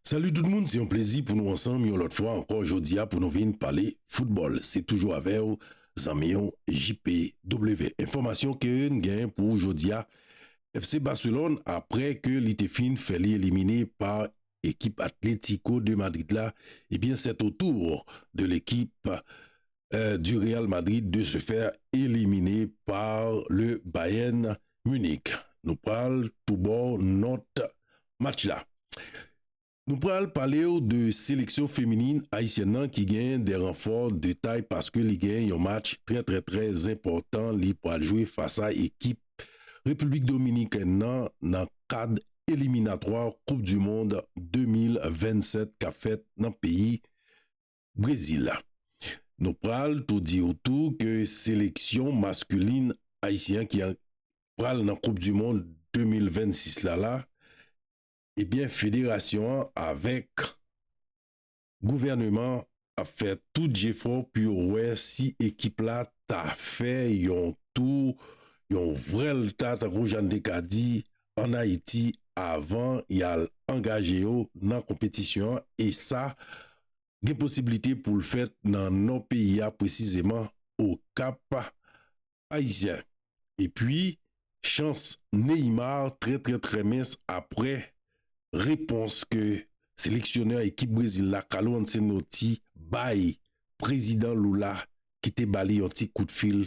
Salut tout moun se yon plezi pou nou ansanm yon lòt fwa ankò jodia pou nou vin pale football se toujou avèw zanmiw JPW enfòmasyon keun gen pou ou jodia FC Barcelone aprè ke li te fin fè li elimine pa ekip Atlético de Madrid la ebyen sè o tour de lekip du Real Madrid de se faire elimine par le Bayern Munich. Nou pral tou baw nòt match la. Nou pral palew de seleksyon feminin ayisyèn nan ki gen de ranfò de tay paske li gen yon match trè trè trè zenpòtan li pral jwe fas a ekip Repiblik Dominikèn nan nan kad eliminatwa koup du mond 2027 kap fèt nan peyi Brezil. Nou pral tou di ou tou ke seleksyon maskulin ayisyen an ki pral nan koup du mond 2026 la la ebyen federasyon an avèk gouvèneman ap fè tout jefò pou yo wè si ekip la ta fè yon tou yon vrèlta tankou jan n te ka di an Ayiti avan y al angaje yo nan konpetisyon an e sa gen posiblite pou l fèt nan nò peyi a presizeman Okap Ayisyen. Epi chans Neymar trè trè trè mens aprè repons ke seleksyonè ekip Brezil la Carlo Ancelotti bay Prezidan Lula ki te ba li yon ti kout fil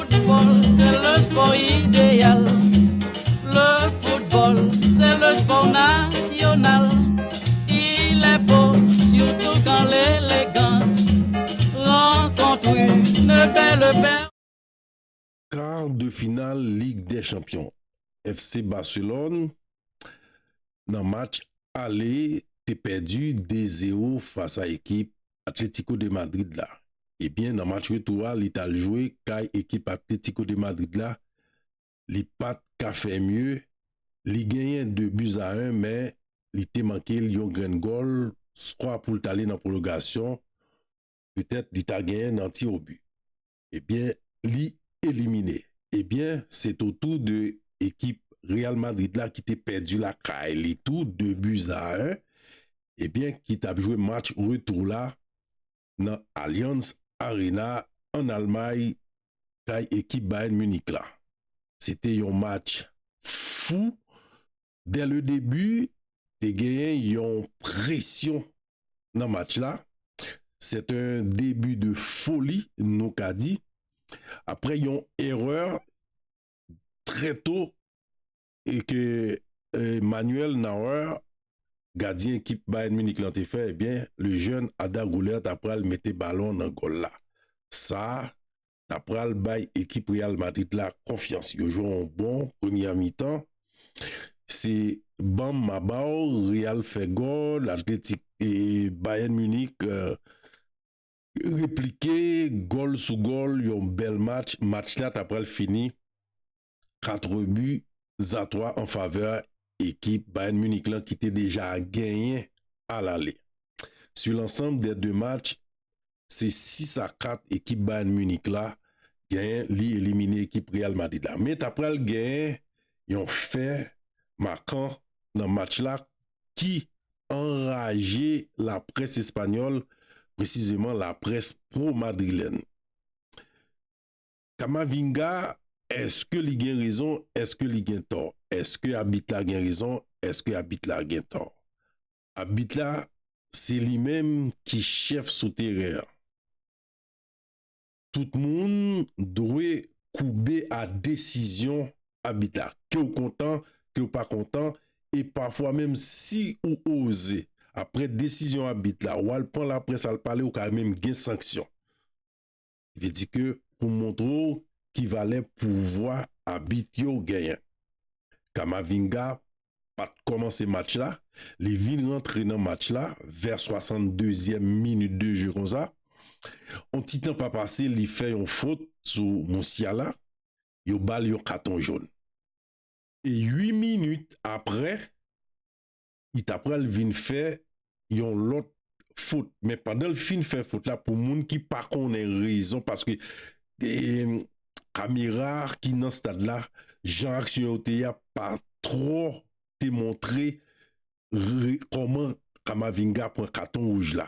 Kar de final lig dè chanpyon FC Barcelone nan match ale te pèdi 2 zero fas a ekip Atlético de Madrid la. Ebyen nan match retou a li tal jwe kay ekip Atlético de Madrid la li pat ka fè mye li genyen 2 buts a 1 men li te mankel yon grenn gòl skwa poul t ale nan pwolongasyon petèt li ta genyen nan tir au but. ebyen li elimine ebyen se t otou de ekip Real Madrid la ki te pèdi lakay li tou 2 buts a 1 ebyen ki tap jwe match retou la nan Allianz Arena an Almay kay ekip Bayern Munich la se te yon match fou Dè le debi te genyen yon presyon nan match la, sè te debi de foli nou ka di aprè yon erè trè to e ke Manuel Neuer gadyen ekip Bayern Munich lan te fè, ebyen le jèn Arda Guler ta pral mete balon nan gòl la. Sa ta pral bay ekip Real Madrid la konfyans. Yo jwe yon bon premyè mitan. Se banm ma baw, Real fè gòl, Atletik e Bayern Munich replike gòl sou gòl, yon bèl match. Match la ta pral fini 4 rebu a 3 an favè ekip Bayern Munich lan ki te deja genyen a lale. Su lansanb dè 2 match, se 6 a 4 ekip Bayern Munich la genyen li elimine ekip Real Madrid la. Men ta pral genyen yon fè makan nan match la ki anraje laprès espanyòl, presizeman laprès pro-madrilèn. Kamavinga eske li gen rezon eske li gen tò eske abit la gen rezon eske abit la gen tò abit la se li menm ki chèf sou teren an tout moun dwe koube a desizyon abit la kew kontan kew pa kontan e pafwa menm si ou oze aprè desizyon abit la wal pran laprès al pale ou ka menm gen sanksyon. Vle di ke pou montre w ki valè pouvwa abit yo genyen. Camavinga pat kòmanse match la, li vin rantre nan match la vè 62 zièm minit de jeu konsa, on ti tan pa pase li fè yon fot sou Musiala, yo ba l yon katon jòn. E 8 minit aprè, li ta pral vin fè yon lòt fot men pandan l fin fè fot la pou moun ki pa konnen rezon paske kamera ki nan stad la jan aksyon yo te ye a pa twò te montre kòman Camavinga pran katon wouj la.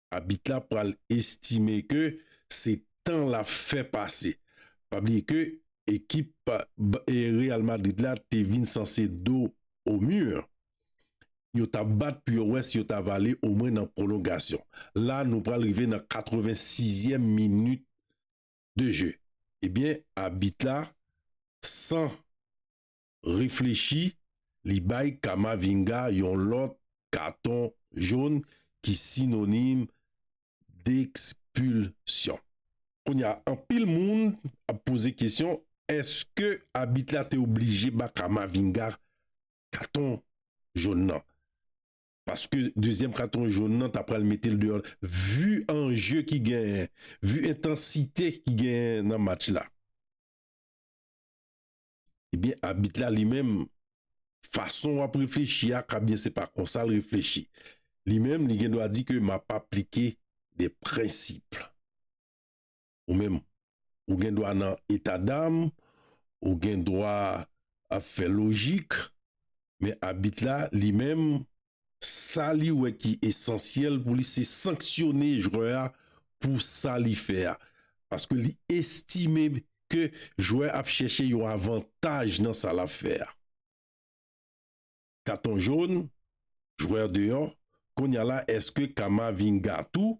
abit la pral estime ke se tan l ap fè pase. Pa bliye ke ekip Real Madrid la te vin sanse do o mur. Yo t ap bat pou yo wè si yo ta va ale omwen nan pwolongasyon. La nou pral rive nan 86 zièm minit de je. Ebyen abit la san. reflechi, li bay Kamavinga yon lòt katon jon ki sinonim d'expulsion. Kounye a, anpil moun ap poze kesyon, èske abit la te oblije ba Kamavinga katon jon nan? Paske dezyèm katon jon nan ta pral mete l deyò vu anje ki genyen, vu entansite ki genyen nan match la. Ebyen abit la li menm fason w ap reflechi a ka byen se pa konsa l reflechi. Li menm li gen dwa di ke m ap aplike de prensip. Ou menm ou gen dwa nan eta dam, ou gen dwa ap fè lojik men abit la li menm Sa li wè ki esansyèl pou li se sanksyone jwè a pou sa li fè a. Paske li estime ke jwè a ap chèche yon avantaj nan sa lap fè a. Katon jòn, jwè deyò, Konya la eske Kamavinga tou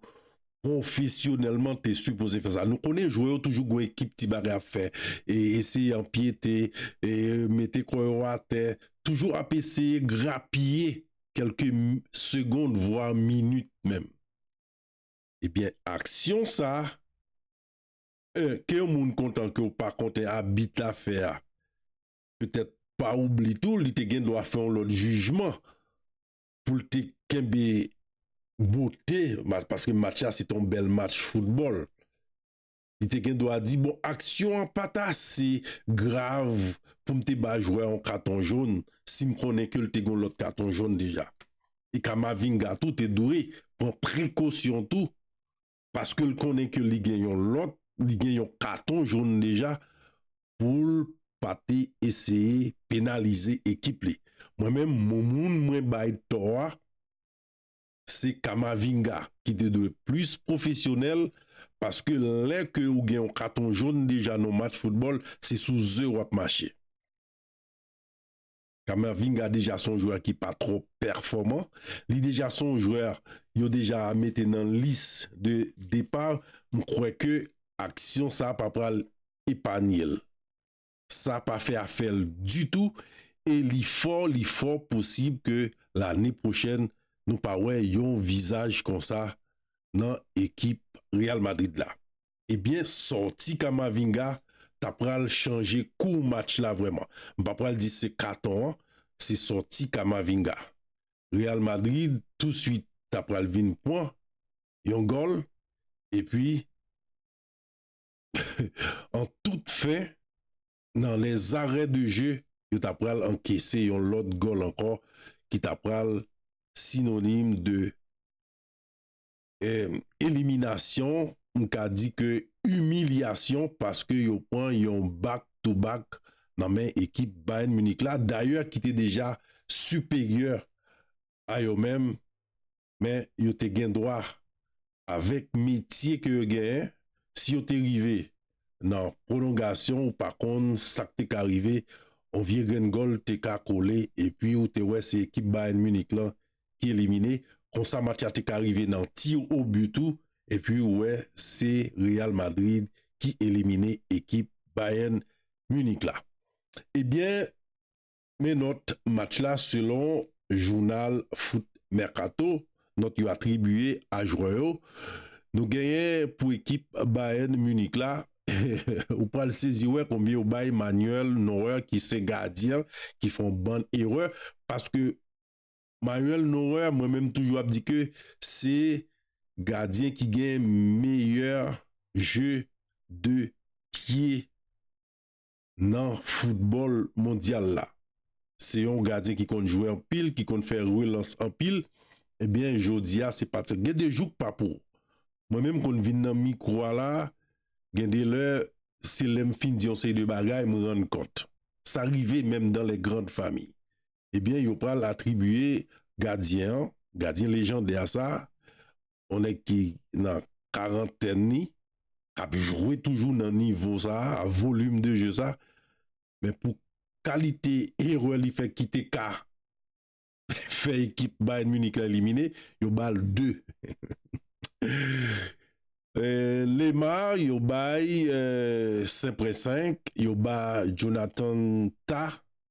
Pwofesyonèlman te sipoze fè sa. Nou konnen jwè yo toujou gwen ekip ti bagay ap fè. E eseye anpyete, e mete kò yo atè. Toujou ap eseye grapiye kelke segond vwa minit menm. Ebyen aksyon sa, 1 ke yon moun kontan ke ou pa konten abit la fè a. Petèt pa oubli tou li te gen dwa fè yon lòt jijman. pou l te kenbe bote match paske match la se te yon bèl match foutbòl. Li te gen dwa di bon aksyon an pa t ase grav pou m te ba jwè a yon katon jòn si m konnen ke l te gen yon lòt katon jòn deja. E Kamavinga tou te dwe pran prekosyon tou paske l konnen ke li gen yon lòt, li gen yon katon jón deja pou l pa te eseye penalize ekip li. Mwen menm moun mwen bay tò a se Camavinga ki te dwe plis pwofesyonèl paske lè ke ou gen yon katon jón deja nan yon match foutbòl se sou ze w ap mache. Camavinga deja son jwè ki pa twò pèfòman, li deja son jwè yo deja mete nan lis de depa, m kwè ke aksyon sa pa pral epanye l. Sa pa fè afè l ditou e li fò li fò posib ke lane pwochèn nou pa wè yon vizaj konsa nan ekip Real Madrid la. Ebyen sòti Camavinga ta pral chanje kou match la vrèman. M pa pral di se katon an, se sòti Camavinga. Real Madrid touswit ta pral vin pwan yon gòl epi an tout fen nan lè zarè de je yo ta pral ankese yon lòt gòl ankò ki ta pral sinonim de eliminasyon m ka di ke imilyasyon paske yo pran yon back to back nan men ekip Bayern Munich la dayè ki te deja siperyè a yo menm men yo te gen dwa avèk metye ke yo genyen si yo te rive nan pwolongasyon ou pa konn sa k te ka rive yon vye grenn gòl te ka kole epi ou te wè se ekip Bayern Munich lan ki elimine, konsa match la te ka rive nan tir au but tou epi ou wè se Real Madrid ki elimine ekip Bayern Munich la. Ebyen men nòt match la selon jounal Foot Mercato, nòt yo atribiye a jwè yo, nou genyen pou ekip Bayern Munich la ou pral sezi wè konbyen yo bay Manuel Neuer ki se gadyen ki fè yon bann erè paske Manuel Noer mwen menm toujou ap di ke se gadyen ki gen meyè jeu de pye nan foutbòl mondyal la. Se yon gadyen ki konn jwe anpil, ki konn fè relans anpil, ebyen jodi a se pati gen de jouk pa pou mwen menm konn vin nan mikwo a la gen de lè se lèm fin di yon seri de bagay m rann kont sa rive menm dan lè grand fami ebyen yo pral atribiye gadyen an, gadyen lejandè a sa, yon nèg ki nan karantèn li, kap jwe toujou nan nivo sa, a volim de je sa, men pou kalite erè li fè ki te ka fè ekip Bayern Munich la elimine, yo bal 2. Lemar yo bay senpren 5, yo ba Jonathan Tah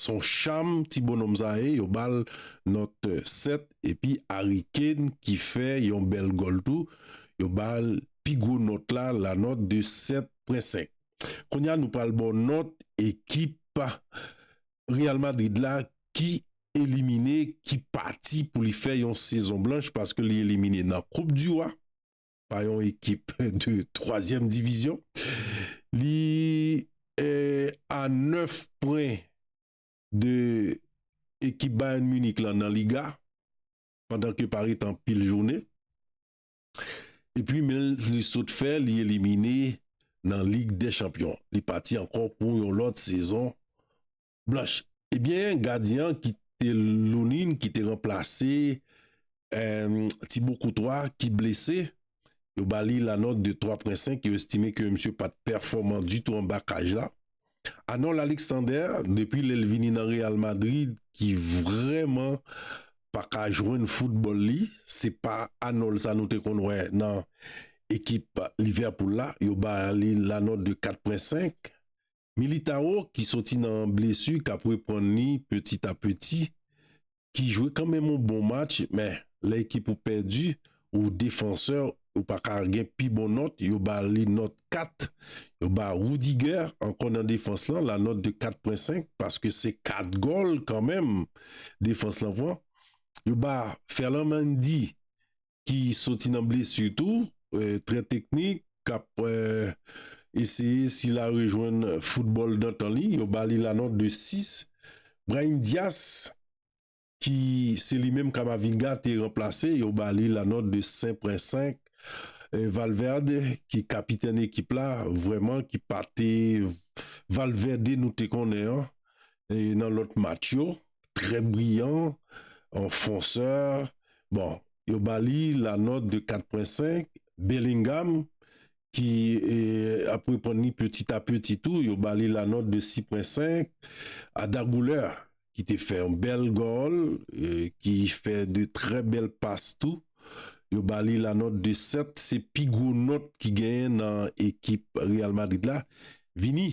Son cham ti bonhomme sa ye yo bal note 7 epi Harry Kane ki fè yon bèl gòl tou yo bal pi gwo nòt la la note de 7 pwen 5 kounya nou pral baw nòt ekip Real Madrid la ki elimine ki pati pou li fè yon sezon blanch paske li elimine nan koup du roi. pa yon ekip de twazyèm divizyon. Li a 9 pwen de ekip Bayern Munich lan nan Liga pandan ke pa ret anpil jounen. E pi men li sot fè li elimine nan Lig dè chanpyon. Li pati ankò pou yon lòt sezon Blanch, Ebyen gadyen an ki te Lunine ki te ranplase Ti Bo Koutwa ki blese, yo ba li la nòt de 3 pwen 5, yo estime ke misye pa t pèfòman ditou anba kaj la. Arnold Alexander, depi lè l vini nan Real Madrid ki vrèman pa ka jwenn foutbòl li, se pa Arnold sa nou te konn wè nan ekip Liverpool la, yo ba li la nòt de 4 pwen 5. Militao ki soti nan blesu kap reprann li petit a petit ki jwe kanmenm yon bon match men lè ekip ou pèdi ou defansè ou paka gen pi bon nòt yo ba li nòt 4 yo ba Rudiger ankò nan defans lan la nòt de 4 pwen 5 paske se 4 gòl kanmenm defans lan pran yo ba Ferland Mendy ki soti nan blesi tou, trè teknik, k ap eseye si l a rejwenn foutbòl dantan li, yo ba li lanòt de 6. Brahim Diaz ki se li menm Camavinga te ranplase, yo ba li lanòt de 5.5. Valverde ki kapitèn ekip la, vrèman ki pa te Valverde nou te konnen an, E nan lòt match yo, trè briyan, an fonsè, bon, yo ba li la nòt de 4.5, Bellingham ki ap reprann li peti a peti tou, yo ba li la nòt de 6.5, Arda Güler ki te fè yon bèl gòl, ki fè de trè bèl pas tou, yo ba li la nòt de 7, se pi gwo nòt ki genyen nan ekip Real Madrid la, Vini.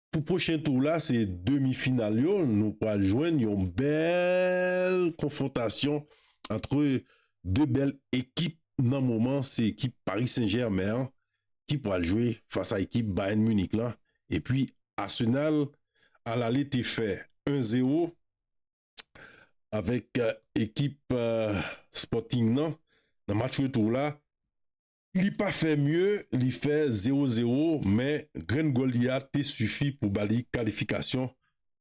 Pou pwochen tour la se demi final yo nou pwal jwenn yon bèl konfwontasyon antre 2 bèl ekip nan moman se ekip Paris Saint Germain an ki pwal jwe fas a ekip Bayern Munich lan epi Arsenal a lale te fè 1 zero avèk ekip Sporting nan nan match retou la. Li pa fè mye, li fè 0 0, men grenn gòl li a te sifi pou ba li kalifikasyon.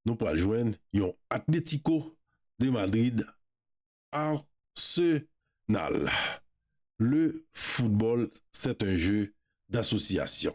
Nou pral jwenn yon Atlético de Madrid Arsenal. Le football c'est un jeu d'association.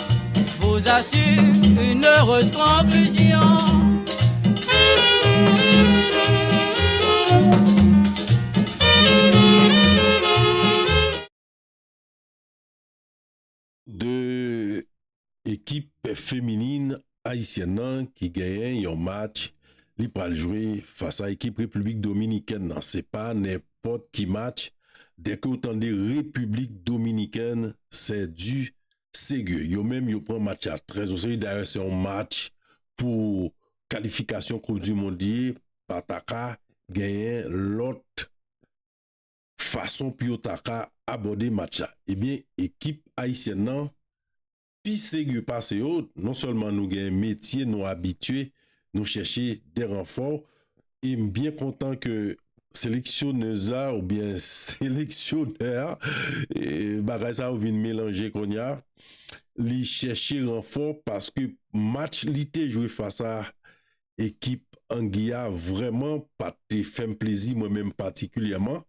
2 ekip feminin ayisyèn nan ki genyen yon match li pral jwe fas a ekip repiblik dominikèn nan se pa nen pòt ki match dèke ou tande repiblik dominikèn sè di serye yo menm yo pran match la trè oseye dayè se yon match pou kalifikasyon koup di mond li ye pa ta ka genyen lòt fason pou yo ta ka abòde match la ebyen ekip ayisyèn nan pi serye pase yo non sèlman nou gen metye nou abitye nou chèche de ranfò. E m byen kontan ke seleksyonèz la oubyen seleksyonè a, bagay sa yo vin melanje kounye a, li chèche ranfò paske match li te jwe fas a ekip Angi a vrèman pa te fè m plezi mwen menm patikilyèman.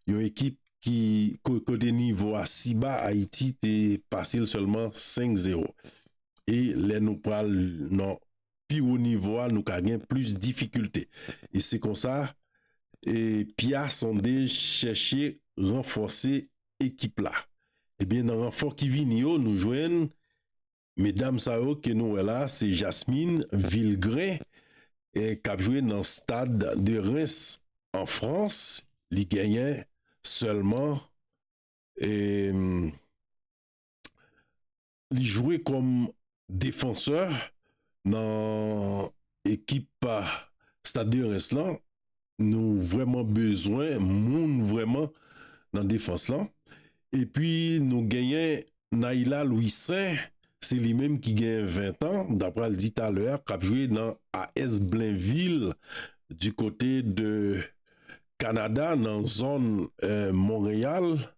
Yon ekip ki kote nivo a si ba Ayiti te pase l sèlman 5 zewo. E lè nou pral nan. pi wo nivo a nou ka gen plis difikilte. E se konsa Pia Sandez chèche ranfòse ekip la. Ebyen nan ranfò ki vini yo nou jwenn medam sa yo ke nou wè la se Jasmine Vilgrain kap jwe nan Stade de Reims an Frans li genyen sèlman Li jwe kòm defansè nan ekip Stade de Reims lan. Nou vrèman bezwen moun vrèman nan defans lan. Epi nou genyen Naïla Louissaint, se li menm ki gen 20 tan, mta pral di talè a, k ap jwe nan AS Blainville di kote de Kanada nan zòn Monreyal.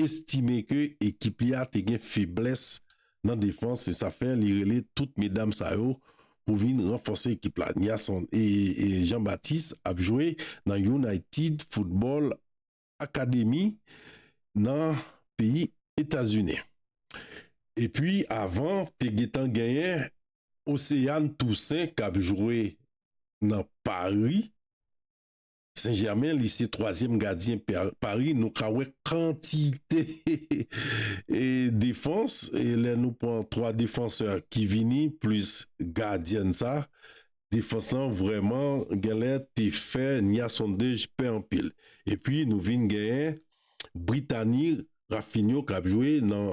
estime ke ekip li a te gen feblès nan defans e sa fè li rele tout medam sa yo pou vin ranfòse ekip la. Niasson Jean Baptiste ap jwe nan United Football Academy nan peyi Etazini. Epi avan te gentan genyen Océane Toussaint kap jwe nan Paris. Sen Jèmen li se twazyèm gadyen Paris nou ka wè kantite defans lè nou pran 3 defansè ki vini plis gadyèn sa defans lan vrèman genlè te fè Nya Sondej pè anpil epi nou vin genyen Britani Raphinho kap jwe nan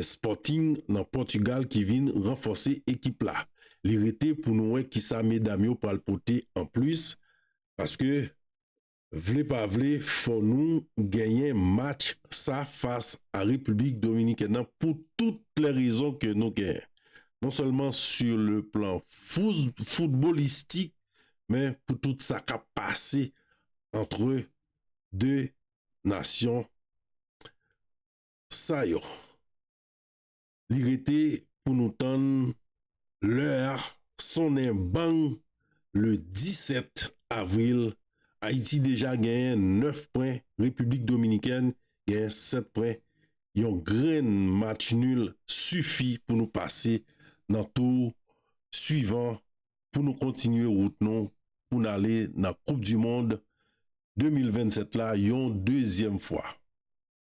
Sporting nan Portugal ki vin ranfòse ekip la. Li rete pou nou wè kisa medam yo pral pote an plis paske vle pa vle fò nou genyen match sa fas a République Dominicaine nan pou tout lè rezon ke nou genyen non sèlman su le plan foutbolistik men pou tout sa kap pase antre 2 nasyon Sa yo. Li rete pou nou tann lè a sonnen bang le 17 avril Ayiti deja genyen 9 pwen Repiblik Dominikèn genyen 7 pwen yon grenn match nul sifi pou nou pase nan tou swivan pou nou kontinye wout nou pou n ale nan koup du mond 2027 la yon dezyèm fwa.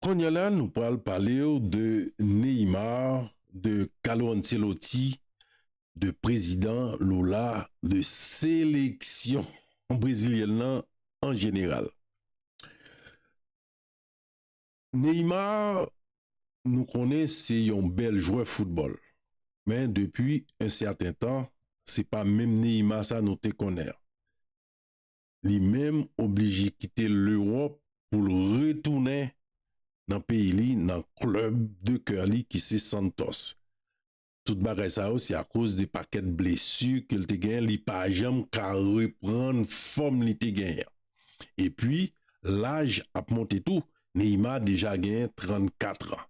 Konnya la nou pral palew de Neymar de Carlo Ancelotti de prezidan Lula de seleksyon brezilyèn lan an jeneral Neymar nou konnen se yon bèl jwè foutbòl men depi en sèten tan se pa menm Neymar sa nou te konnen an. li menm oblije kite Lewòp pou l retounen nan peyi li nan club de coeur li ki se Santos. Tout bagay sa yo se akoz de pakèt blesu ke l te genyen li pa janm ka reprann fòm li te genyen an. Epi laj ap monte tou, Neymar deja genyen 34 ans.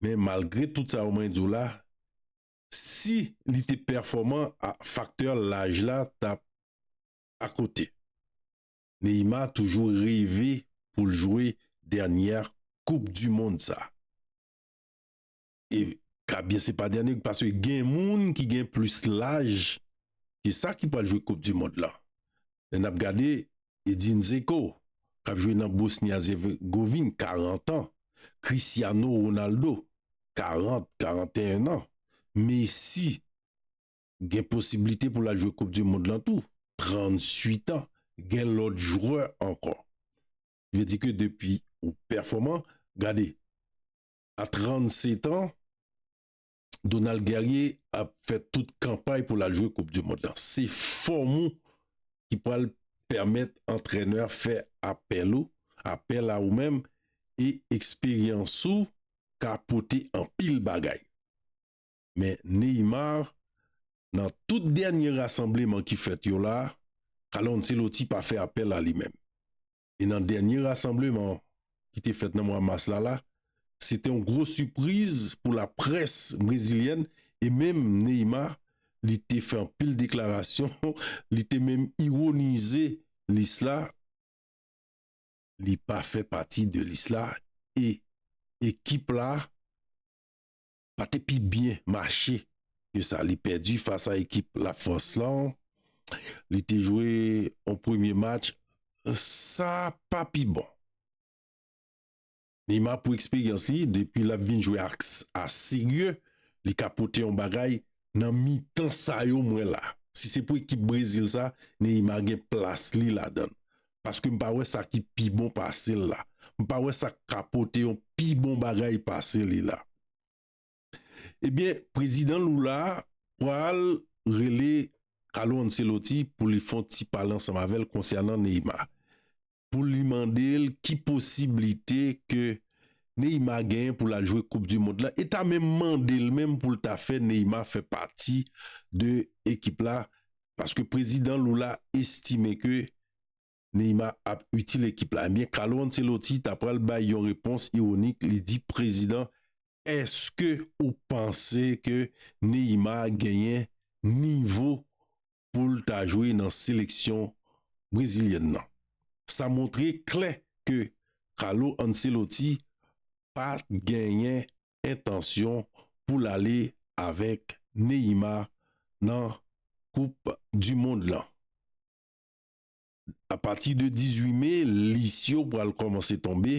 Men malgre tout sa yo mwen di w la, Si li te pèfòman a faktè laj la tap a kote. Neymar toujou reve poul jwe dènyè koup du mond sa. E ka byen se pa dènyè paske gen moun ki gen plis laj ke sa ki pral jwe koup du mond lan. Lè n ap gade Edin Zeko k ap jwe nan Bosni-Azegovin, 40 an, Cristiano Ronaldo, 40, 41 an, Messi gen posiblite pou l al jwe koup di mond lan tou, 38 an, gen lòt jwè ankò. Ki vle di ke depi ou pèfòman, gade a 37 an, Donald Guerrier ap fè tout kanpay pou l al jwe koup du mond lan. Se fòm ou ki pral pèmèt antrenè a fè apèl ou, apèl a ou menm e eksperyans ou ka pote anpil bagay. Men Neymar nan tout dènye rasanbleman ki fèt yo la, Carlo Ancelotti pa fè apèl a li menm. e nan dènye rasanbleman ki te fèt nan mwa mas la la, se te yon gwo sipriz pou laprès brezilyèn e menm Neymar li te fè anpil deklarasyon, li te menm ironize lis la, li pa fè pati de lis la e ekip la. pa te pi byen mache ke sa li pèdi fas a ekip La Frans lan. Li te jwe yon premye match sa pa pi bon. Neymar pou eksperyans li depi lap vin jwe ak a serye li ka pote yon bagay nan mitan sa yo m wè la. Si se pou ekip Brezil sa Neymar gen plas li ladan l. paske m pa wè sa ki pi bon pase l la, m pa wè sa k ka pote yon pi bon bagay pase li la. Ebyen prezidan Lula pral rele Carlo Ancelotti pou li fè yon ti pale ansanm avè l konsènan Neymar, pou li mande l ki posiblite ke Neymar genyen pou l al jwe koup di mond la e ta menm mande l menm pou l ta fè Neymar fè pati de ekip la paske prezidan Lula estime ke Neymar ap itil ekip la, ebyen Carlo Ancelotti ta pral bay yon repons ironik, li di prezidan Eske ou panse ke Neymar genyen nivo pou l ta jwe nan seleksyon brezilyèn nan? Sa montre klè ke Carlo Ancelotti pa genyen entansyon pou l ale avèk Neyima nan koup du mond lan. A pati de 18 me lis yo pral kòmanse tonbe,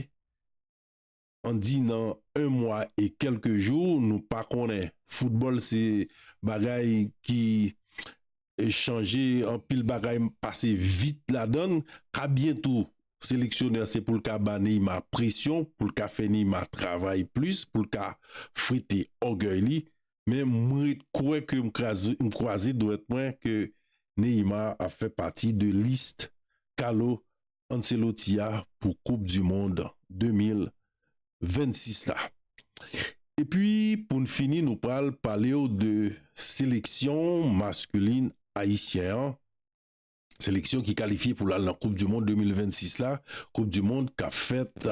an di nan 1 mwa e kèlke jou, nou pa konnen, foutbòl se bagay ki chanje anpil bagay pase vit ladann a byen tou seleksyonè se poul ka ba Neymar presyon poul ka fè Neymar travay plis poul ka frite ògèy li men mwen ret kwè ke m kraze m kwaze dwèt mwen ke Neymar ap fè pati de list Carlo Ancelotti a pou koup du mond 2026 la. Epi poun fini nou pral palew de seleksyon masculin ayisyen an, seleksyon ki kalifye poul al nan koup du mond 2026 la, koup du mond kap fèt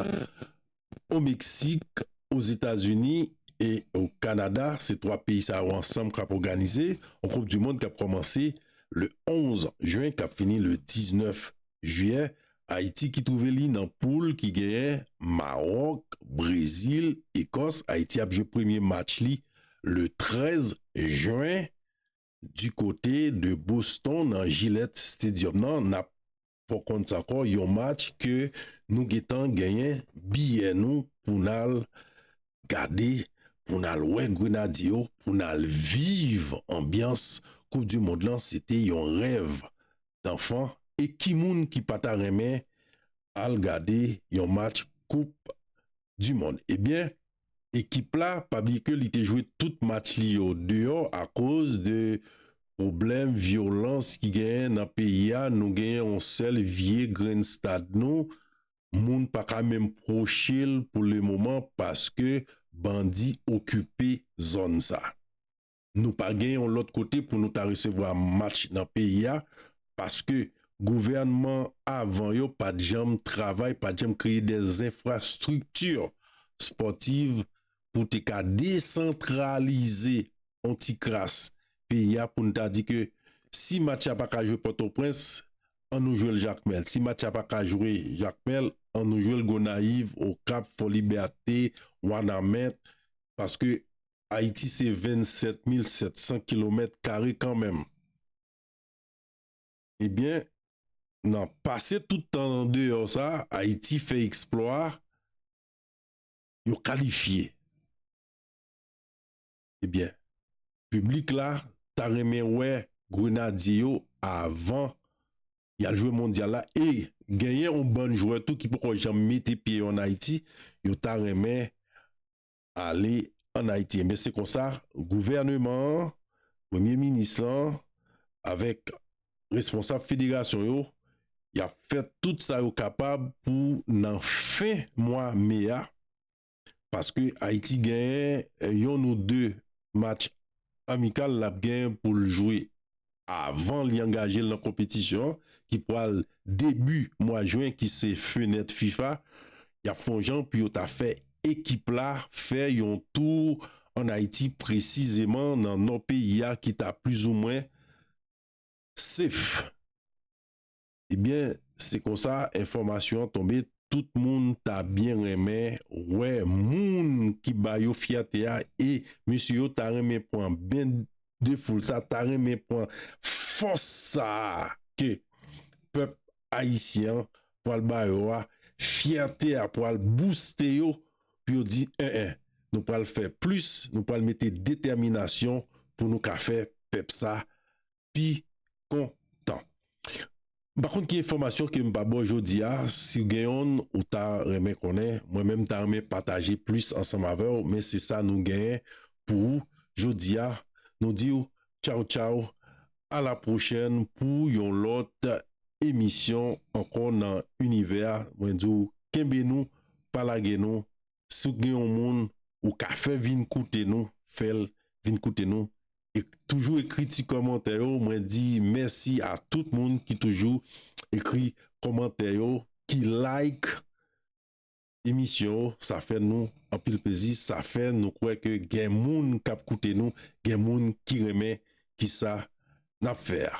o Meksik, o Zetazini e o Kanada, se 3 peyi sa yo ansanm kap òganize on koup di mond kap kòmanse le 11 jen kap fini le 19 jiyè, Ayiti ki twouve li nan poul ki genyen Maròk, Brezil, Ekòs, Ayiti ap jwe premye match li le 13 jen di kote de Boston nan Gillette Stadium nan nap. fò konn sa kò yon match ke nou getan genyen biyè nou pou nal gade pou nal wè grenadye yo pou nal viv anbyans koup di mond lan se te yon rèv danfan e ki moun ki pata renmen al gade yon match koup di mond ebyen. Ekip la pa bliye ke li te jwe tout match li yo deyò akoz de pwoblèm vyolans ki genyen nan peyi a, nou genyen yon sèl vye grenn stad nou, moun pa ka menm pwoche l pou le moman paske bandi okipe zòn sa. Nou pa gen yon lòt kote pou nou ta resevwa match nan peyi a paske gouvènman avan yo pa t janm travay, pa t janm kreye de zenfrastrikti spòtiv pou te ka desantralize yon ti kras peyi a pou n ta di ke si match la pa ka jwe Pòtoprens, an nou jwe l Jakmèl. Si match la pa ka jwe Jakmèl, an nou jwe l Gonayiv, Okap, Fòlibète, Wanament paske Ayiti se 27 mil 700 kilomèt kare kanmenm. Ebyen, nan pase tout tan an deyò sa, Ayiti fè eksplwa yo kalifye. Ebyen, piblik la ta renmen wè Grenadye yo avan y al jwe Mondyal la e genyen yon bann jwè tou ki poko janm mete pye yo an Ayiti, yo ta renmen ale ann Ayiti. Enben se konsa gouvèneman an, premye minis lan avèk responsab federasyon yo, y ap fè tout sa yo kapab pou nan fen mwa me a, paske Ayiti genyen yonn ou de match amikal l ap gen pou l jwe avan li angaje l nan konpetisyon an ki pral debi mwa jwen ki se fenèt fifa y ap fè yon jan pou yo ta fè ekip la fè yon tou ann Ayiti presizeman nan nò peyi a ki ta plizoumwen sef. Ebyen se konsa enfòmasyon an tonbe tout moun ta byen renmen wè moun ki ba yo fyète a e mesye yo ta renmen pran ben de foul sa ta renmen pran fòs sa ke pèp ayisyen an pwal ba yo a fyète a pwal bouste yo pou yo di en en nou pwal fè plis nou pwal mete detèminasyon pou nou ka fè pèp sa pi kontan. M pa konn ki enfòmasyon ke m pa ba w jodi a, si w gen yonn ou ta renmen konnen, mwen menm m ta renmen pataje plis ansanm avè w, men se sa nou genyen pou ou jodi a, nou di w tchaw tchaw a la pwochèn pou yon lòt emisyon ankò nan Univers, mwen di w kenbe nou pa lage nou si w gen yon moun ou ka fè vin koute nou fèl vin koute nou e toujou ekri ti kòmantè yo mwen di mèsi a tout moun ki toujou ekri kòmantè yo ki like emisyon yo sa fè nou anpil plezi sa fè nou kwè ke gen moun kap koute nou gen moun ki renmen kisa nap fè a.